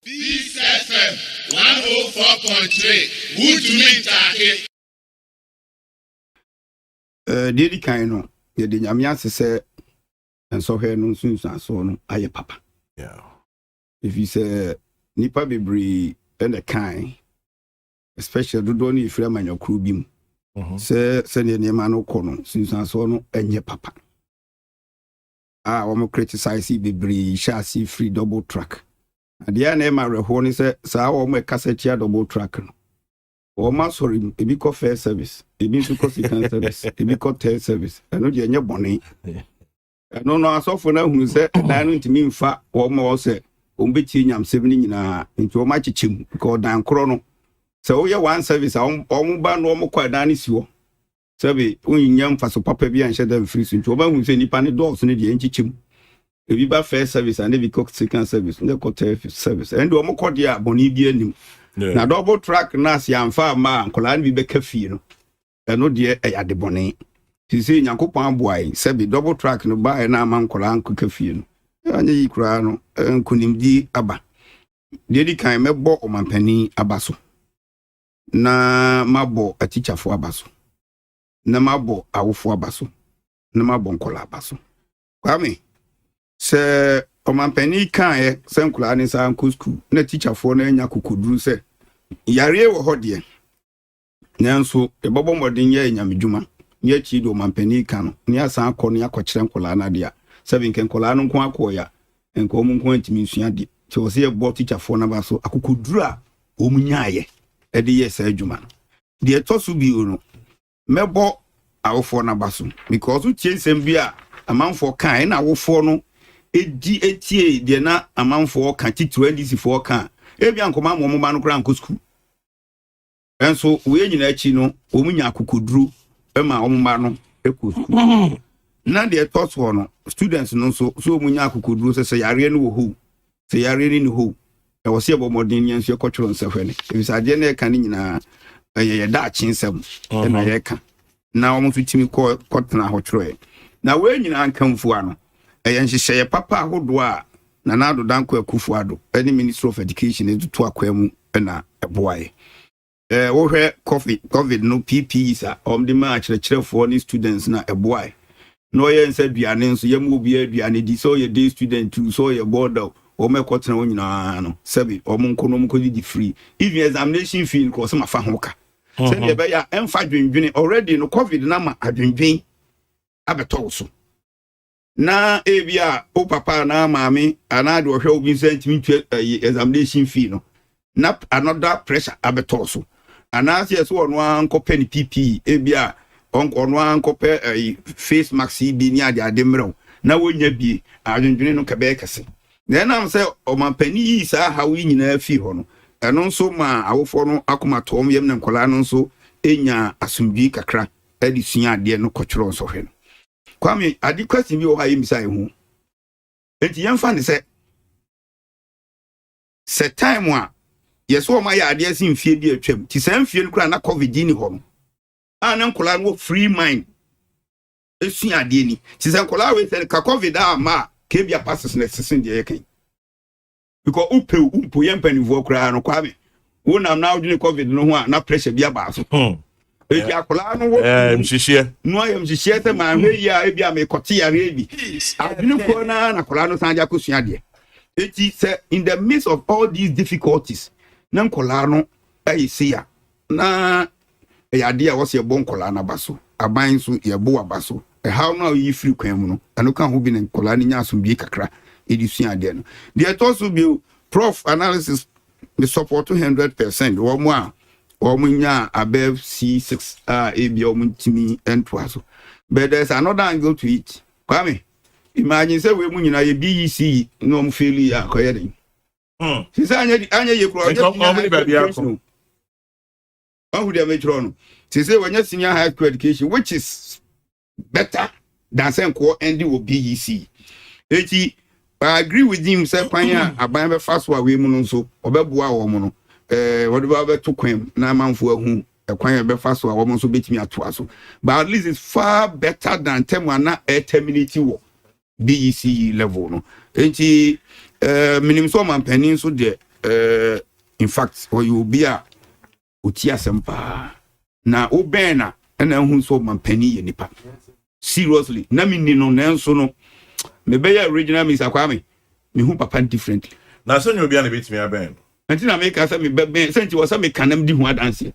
Peace FM one oh four point three wotumi ntaake. Eh, deɛ di kan no yɛde nyame ase sɛ nsɔhwɛ no nsunsuansoɔ no ayɛ papa ɛfiri sɛ nnipa bebree ɛna kan especially dodoɔ no yɛfiri amanyɔkoro bi mu mhm. sɛ sɛdeɛ nneɛma no kɔ no sunsuansoɔ no ɛnyɛ papa a wɔn criticize bebree hyɛ ase firi double track adeɛ a na ɛma awerɛhoɔ ne sɛ saa wɔn ɛkasa tia double track no wɔn asɔre mu ebi kɔ first service ebi nso kɔ second service ebi kɔ third service ɛno deɛ ɛnyɛ bɔne ɛno no asɔfo no ahunu sɛ ɛdan no ntumi mfa wɔn ma wɔn sɛ wɔn bɛtie nyamsɛm no nyinaa nti wɔn akyekyɛ mu nka ɔdan korɔ no sɛ woyɛ one service a wɔn ba no wɔn kɔ ɛdan no si hɔ Sɛbe wonnya mfaso papa bi anhyɛ da mfiri so nti, wɔbɛhu sɛ nnipa no dɔɔso no deɛ, ɛnkyekyɛ mu. Ebi ba first service anaasɛ ebi kɔ second service, na ɛkɔ third service. Ɛnde wɔkɔ deɛ a, bɔne biara nnim. Na double track no a, sɛ yɛamfa amma a, nkwadaa no bi bɛka fie no. Ɛno deɛ, ɛyɛ adebɔne. Seesei Nyankopɔn aboa yɛn, sɛbe double track no baeɛ na amma nkwadaa ankɔka fie no, anyɛ yie koraa no, nkonimdie aba. Deɛ ɛdi kan, mɛbɔ ɔmampanin aba so. na mabɔ atikyafo aba so na mabɔ awofo aba so na mabɔ nkɔla aba so kwame sɛ ɔmampanin kaeɛ sɛ nkɔla ne nsa nkɔ sukuu na tikyafoɔ no anya kokoduru sɛ yareɛ wɔ hɔ deɛ nanso yɛbɛbɔ mmɔden yɛ nyamedwuma ne akyiri deɛ ɔmampanin ka no ne asan akɔ ne akɔkyerɛ nkɔla no adeɛ a sɛ benkɛ nkɔla no nko akɔɔ ya nka wɔn nko ntumi nsua adeɛ sɛ wɔ sɛ yɛbɔ tikyafoɔ no aba so akokoduru a wɔn nyaayɛ ɛde yɛ saa adwuma no deɛ ɛtɔ so bio no mɛbɔ awofoɔ no aba so because wotie nsɛm bi a amanfoɔ ka ɛna awofoɔ no ɛdi ɛtie deɛ na amanfoɔ ka titiri ndisifoɔ ka ebi ankɔma ama wɔn ba no koraa nkɔ sukuu Nanso wei nyinaa akyi no, wɔn nya akokoduro ma wɔn mma no kɔ sukuu. Na deɛ ɛtɔ soɔ no, students no nso, so wɔn nya akokoduro sɛ sɛ yareɛ no wɔ hɔ sɛ yareɛ no ni hɔ na wɔsɛ yɛbɔ mmɔden yɛn nso yɛkɔtwerɛ nsɛhwɛ no. Ebisa adeɛ no yɛka no nyinaa ɛyɛ yɛ daakye nsɛm na yɛka. na wɔn nso tumi kɔ kɔtena hɔ twerɛɛ. Na wei nyinaa nkamfua no, ɛyɛ nhyehyɛeɛ papa ahodoɔ a Nana Addo Dankwa Akufo Addo ne Ministry of Education de to akwan mu na ɛboaeɛ. Eh, wohwɛ COVID, COVID no PPEs a wɔde maa akyerɛkyerɛfoɔ ne students na ɛboaeɛ. Na ɔyɛ nsa aduane nso, yɛma obiara aduane di, sɛ ɔyɛ day student o, sɛ ɔyɛ boarder o, wɔn ɛkɔtena hɔ nyinaa no, sɛbe wɔn nkɔ na wɔn nkɔdidi free. Even examination fee no kora wɔsɛ mafa ho ka. sɛdeɛ ɛbɛyɛ a ɛmfa adwendwene already no covid no ama adwendwen abɛtɔ wo so na ebi a wo papa anaa maame anaa deɛ ɔhwɛ wo bi nsa ntumi ntwa ayi eh, examination fee no na another pressure abɛtɔ so anaasɛ ɛsɛ ɔno ara nkɔpɛ ne pp ebi a ɔno ara nkɔpɛ ayi eh, face mask yi bi ne ade ade mmerɛw na wɔnya bie adwendwene no kɛbɛyɛ kɛse Na ɛnam sɛ ɔmampanyin yii saa haw yi nyinaa fii hɔ no, ɛno nso maa awofo no akoma tɔɔ wɔn yam na nkwadaa no nso nyaa asomdwoe kakra de suaa adeɛ no kɔtwerɛɛ nsɔhwɛ no. Kwame, ade question bi wɔ hɔ a yɛmmisae ho. Enti yɛmfa ne sɛ, sɛ time a yɛsɛ wɔn ayɛ adeɛ se mfie bi atwam, ti saa mfie no koraa na covid ni hɔ no, a na nkwadaa no wɔ free mind sua adeɛ ni te sɛ nkɔlaa wei sɛ ka covid a ma a kebia passes na ɛsese deɛ yɛka yi because wopɛ wo mpo yɛ mpanimfoɔ koraa no kwame wonam na wodwene covid no ho a na pressure bi abaa so hmm. ebi akwadaa no wɔ eh, nhyehyɛ no ayɛ nhyehyɛ sɛ maa hwɛ yi a ebi a mekɔte yareɛ bi adwene kɔɔ na na akwadaa no san de akɔsua adeɛ eti sɛ in the midst of all these difficulties na nkwadaa no ɛyɛ se ya Na ɛyɛ adeɛ a wɔse yɛbɔ nkwadaa no aba so, aban nso yɛbo aba so. Ɛhaw no a woyi firi kwan mu no, ɛno ka ho bi na nkwadaa no nya asomdwie kakra de sua adeɛ no. Deɛ ɛtɔ so bio, Proff analysis, me sɔpɔɔto hundred per cent wɔn a wɔn nya above C6 a ebia wɔn ntumi ntoa so. But there is another angle to it. Kwame, imagine sɛ wei mu nyinaa yɛ BECE na wɔn faili a, kɔyɛ den. Hmm. sisi anyɛ anyɛ yie kura ɔnyɛ senior high school education o ɔhu deɛ mekyerɛ no sisi wɔnyɛ senior high school education which is better than sɛ nkɔɔ ɛndi wɔ BEC eti I agree with him sɛ kwan a aban bɛfa so a wei mu no nso ɔbɛboa wɔn no ɛɛ eh, wɔde ba bɛto kwan mu na amanfo ahu ɛkwan a ɛbɛfa so a wɔn nso betumi atoa so but at least it's far better than tɛm ana ɛtɛminiti wɔ BECE level no nti eh, menim sɛ ɔmampanin nso deɛ eh, in fact ɔyɛ obi a ɔti asɛm paa na wobɛn na ɛna ahu sɛ ɔmampanin yɛ nipa seriously na menni no nanso no mebɛyɛ original Mr. Kwame mehu papa differently na sɛ nyɛ obi a na ɛbɛtumi abɛn no nti na meka sɛ mebɛbɛn sɛ nti wɔ sɛ meka nam di ho adanseɛ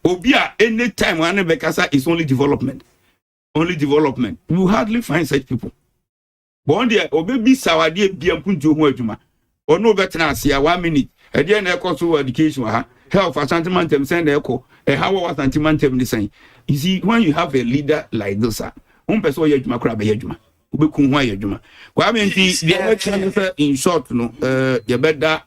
obi a anytime a ne bɛkasa is only development only development you hardly find such people wɔn deɛ ɔbɛbisa adeɛ bia mpo nti ɔho adwuma ɔne ɔbɛtena ase a one minute ɛdeɛ na ɛkɔ so education wɔ ha health asante mantam sɛn na ɛkɔ ɛha wɔ asante mantam ne sɛn you see when you have a leader like this a wɔn pɛ sɛ ɔyɛ adwuma koraa bɛyɛ adwuma wobɛku ho ayɛ adwuma kwame nti deɛ ɛbɛkyerɛ ne sɛ in short no eh, yɛbɛda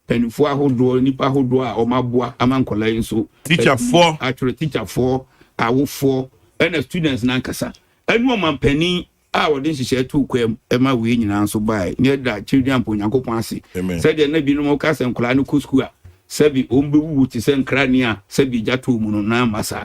Mpanyinfoɔ ahodoɔ, nnipa ahodoɔ a wɔn aboa ama nkwadaa yi nso. Tikyafoɔ. Atwerɛ tikyafoɔ, awofoɔ, ɛna students nankasa, ɛne ɔmanpanin a wɔde nhyehyɛɛ too kwan mu ɛma wei nyinaa nso baaɛ. Ne ɛda children mpo Nyankopɔn ase. Amen. Sɛdeɛ na binom ka sɛ nkwadaa no kɔ sukuu a sɛbi wɔn bɛwuwu te sɛ nkra ni a sɛbi gya too mu no, na amma saa.